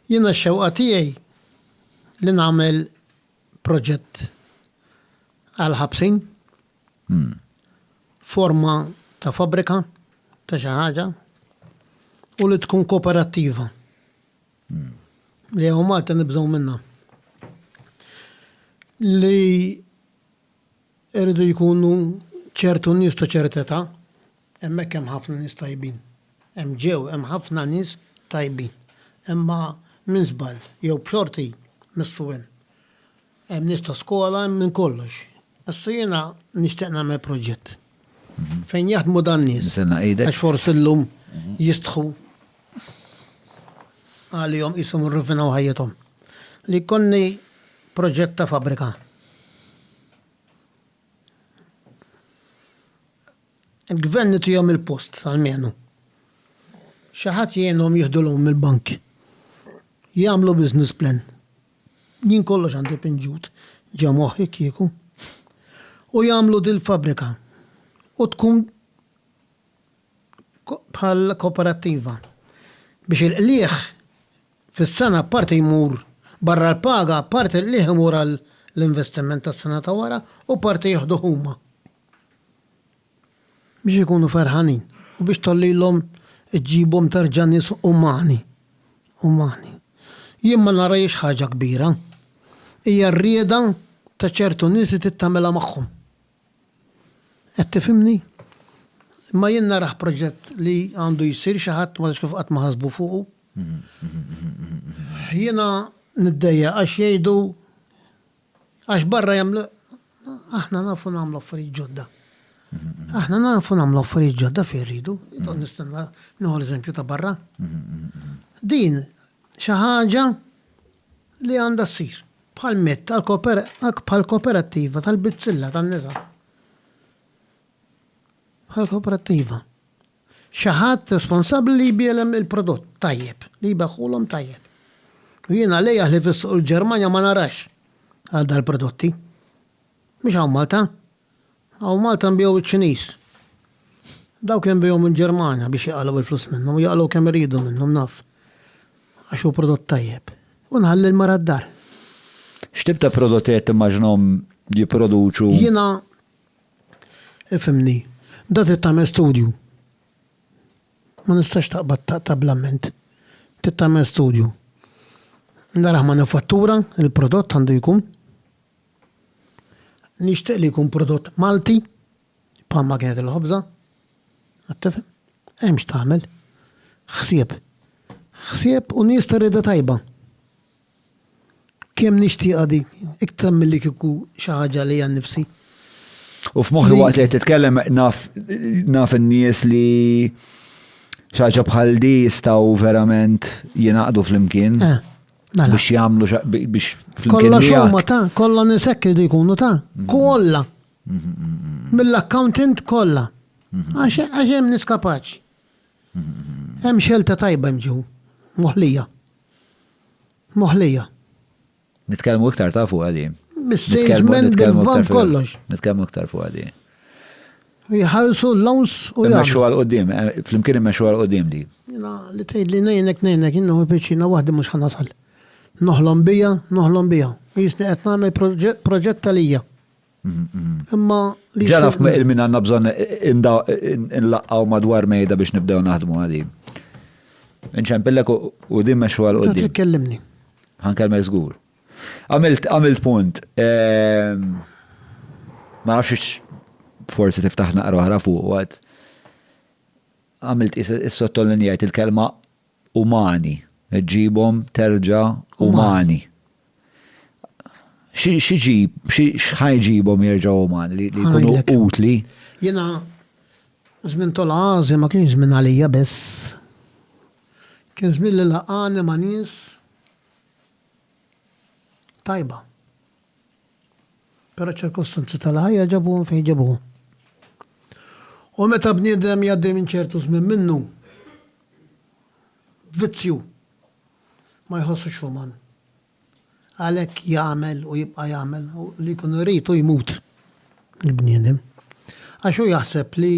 Jiena x-xewqa tiegħi li nagħmel proġett għall-ħabsin, forma ta' fabbrika ta' xi ħaġa u li tkun kooperattiva li hawn Malta nibżgħu minnha. Li jridu jkunu ċertu nies ta' ċerteta' Hemmhekk hemm ħafna nies tajbin. Hemm ġew hemm ħafna nies tajbin. Imma minn żball jew b'xorti missu hemm. Hemm nies ta' skola hemm minn kollox. Issa jiena nixtieq nagħmel proġett. Fejn jaħdmu dan-nies. Nistenna idek. Għax forsi llum jistħu għalihom qishom irrufinaw ħajjithom. Li jkolli proġett ta' fabbrika. Il-Gvern itihom il-post almenu. Xi ħadd jgħinhom jieħdu loan mill-bank. Jagħmlu business plan. Jien kollox għandi pinġut ġo moħħi kieku. U jagħmlu dil-fabbrika. U tkun bħal koperattiva. Biex il-qligħ fis-sena parti jmur barra l-paga, parti l-qligħ imur għall-investiment tas-sena ta' wara u parti jieħduh huma. biex ikunu ferħanin u biex tgħollilhom iġġibhom terġa' nies umani, umani. Jien ma narahiex ħaġa kbira. Hija r-rieda ta' ċertu nies li trid tagħmilha magħhom. Qed tifhimni? Imma jien narah proġett li għandu jsir xi ħadd ma nafx kif qatt ma ħasbu fuqu. Jiena niddejjaq għax jgħidu Għax barra jagħmlu aħna nafu nagħmlu affarijiet ġodda. Aħna nafu nagħmlu affarijiet ġodda fejn rridu, intom nistenna nieħu l-eżempju ta' barra. Din xi ħaġa li għandha ssir bħal mett bħal kooperattiva tal-bizzilla tan-nisa. Bħal kooperattiva. xi ħadd responsabbli li jbiegħlem il-prodott tajjeb, li jbigħhulhom tajjeb. U jien għalejjah li fis-suq il-Ġermanja ma narax għal dal-prodotti. Mhux hawn Malta. Hawn Malta nbiegħu iċ-Ċiniż. Dawk inbigħuhom il-Ġermanja biex jaqalgħu il-flus minnhom u jaqalgħu kemm iridu minnhom naf. Għax hu prodott tajjeb. U nħalli l-mara d-dar. X'tip ta' prodotti qed timmaġinahom jipproduċu? Jiena Ifhimni. Meta trid tagħmel studju ma nistax taqbad taqta' bl-amment. Trid tagħmel studju. Naraħ manifattura, il-prodott għandu jkun. Nixtieq li jkun prodott Malti bħalma kienet il-ħobża. Qed tifhem? Hemm x'tagħmel. Ħsieb. Ħsieb u nies ta' rieda tajba. Kemm nixtieqha dik, iktar milli kieku xi ħaġa li għan nifsi. U f'moħħi waqt li qed titkellem naf naf in-nies li xaġa bħal di jistgħu verament jingħaqdu flimkien. Eh, mela. Biex jagħmlu biex flimkien. Kollha xogħma ta' kollha nisek li jkunu ta' mhm. kollha. Mhm, mhm, Mill-accountant kollha. Għax hemm niskapaċ. Hemm xelta tajba mġew moħlija. Moħlija. Nitkellmu iktar ta' fuqha di. Bis-salesman bil-van kollox. Nitkellmu iktar fuqha di. Jħarsu l-lawns u jgħidu. Immexxu għal qudiem, eh, flimkien immexxu għal qudiem di. Jina li tgħid li ngħinek ngħinek jien nieħu piċċina waħdi mhux ħanasal. Noħlom bija, noħlom bija. Jisni qed nagħmel proġett għalija. Imma li. Ġa naf il-min għandna bżonn inlaqqaw madwar mejda biex nibdew naħdmu għadi. Inċempillek u din meċu għal qoddim. Ġa kellimni. Ħankelmek żgur. Għamilt għamilt punt. Ehm, ma nafx forsi tiftaħ naqra oħra fuq għad. Għamilt is-sottolinjajt il-kelma umani, ġġibhom terġa' umani. Xi ġġib, x'ħa jġibhom jerġgħu umani li jkunu utli? Jiena żmien Tol Għażi ma kienx żmien għalija biss. Kien żmien li laqgħani ma' nies tajba. Però ċ-ċirkostanzi tal-ħajja ġabuhom fejn ġabuhom. U meta bniedem jgħaddi minn ċertu żmien minnu, vizzju, ma jħossux uman. Għalhekk jagħmel u jibqa' jagħmel u li jkun irid hu jmut il-bniedem. Għax hu jaħseb li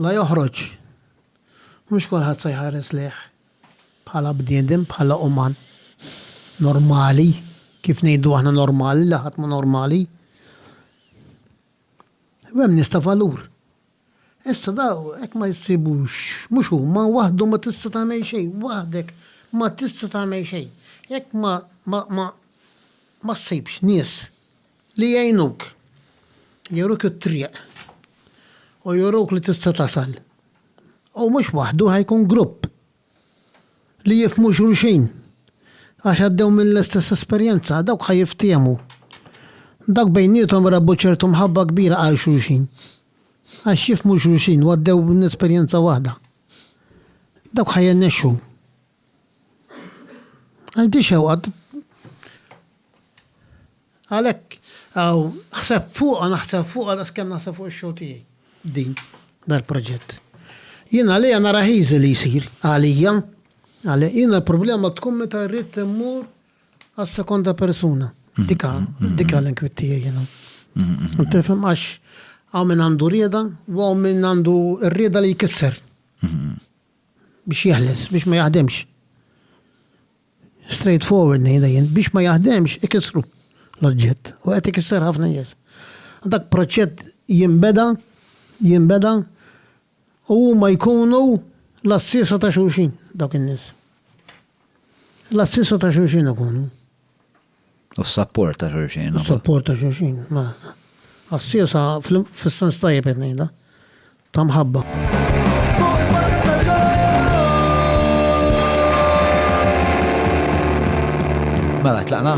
La joħroġ. Mhux kulħadd se jħares lejh bħala bniedem, bħala uman normali, kif ngħidu aħna normali, le ħadd mhu normali. U hemm nies ta' valur. Issa daw hekk ma jsibux, mhux huma, waħdhom ma tista' tagħmel xejn, waħdek ma tista' tagħmel xejn. Jekk ma ma ma ma ssibx nies Li jgħinuk, juruk it-triq u juruk li tista' tasal. U mhux waħdu, ħa jkun grupp li jifhmu xulxin għax għaddew mill-istess esperjenza, dawk ħa jiftiehmu. Dawk bejniethom rebħu ċertu mħabba kbira għal xulxin għax jifhmu xulxin u għaddew minn esperjenza waħda. Dawk ħa jirnexxu Għal di xewqa għalhekk għaw ħseb fuqha naħseb fuqha daqs kemm naħseb fuq ix-show tiegħi. Din dal-proġett. Jien għalija nara ħiżi li jsir għalija għalija jiena l-problema tkun meta rrid immur għas-sekonda persuna. Mhm. Dika, mhm. dika l-inkwit tiegħi jiena. Mhm. Tifhem għax għaw minn għandu rieda u għaw minn għandu r-rieda li jkisser. Biex jeħles, biex ma jaħdemx. Straight forward ngħidha jien, biex ma jaħdemx ikissru l-oġġett u qed ikisser ħafna nies. Dak proċett jinbeda, jinbeda u huma jkunu l-għassiesa ta' xulxin dawk in-nies. L-għassiesa ta' xulxin ikunu. U s-sapport ta' xulxin. U s-sapport ta' xulxin, mela. Għassiesa fis-sens tajjeb qed ngħidha, ta' mħabba. Mela, tlaqna?